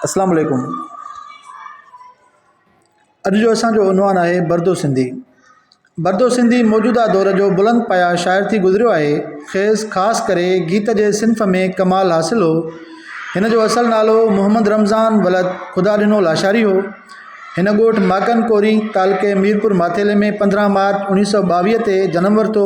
اسلام عليڪم اڄ جو اسانجو عنوان آهي بردو سنڌي بردو سنڌي موجوده دور جو بلند پايا شاعر ٿي گذريو آهي خيز خاص ڪري گيت جي صنف ۾ ڪمال حاصل هو هن جو اصل نالو محمد رمضان ولد خدا ڏنو لاشاري هو هن ڳوٺ ماڪن ڪوري تعلقي ميرپور ماٿيلي ۾ پندرهن مارچ اڻيهه سو ٻاويهه تي جنم ورتو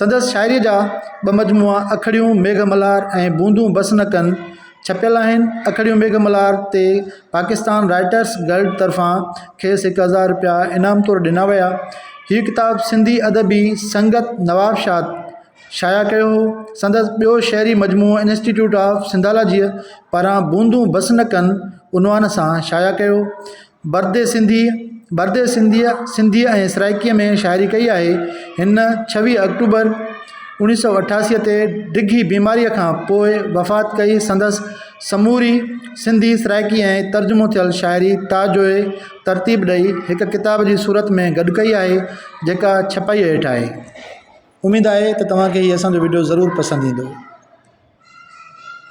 سندس شاعريء جا ٻه مجموعا اکڙيون ميگهه ملهار ۽ بوندون بس نه ڪن ڇپيل آهن. اکڙيون ميگهه ملهار تي پاڪستان رائٽرس گلڊ طرفان کيس هڪ هزار رپيا انعام طور ڏنا ويا. هيء ڪتاب سنڌي ادبي سنگت نوابشاد شايع ڪيو هو. سندس ٻيو شعري مجموعو انسٽيٽيوٽ آف سنڌالاجيء پاران بوندون بس نه ڪن عنوان سان شايع ڪيو. بردي سنڌي، Burde Sindhi، سنڌيء ۽ سرائڪيء ۾ شاعري ڪئي آهي. هن ڇويهه آڪٽوبر اوڻيهه سؤ اٺاسي تي ڊگهي بيماريء کان پوء وفات ڪئي. سندس سموري سنڌي، سرائڪي ۽ ترجمو ٿيل شاعري تاجوء ترتيب ڏئي هڪ ڪتاب جي صورت ۾ گڏ ڪئي آهي، جيڪا ڇپائيء هيٺ آهي. اميد آهي ته توهان کي هي اسان جو وڊيو ضرور پسند ايندو.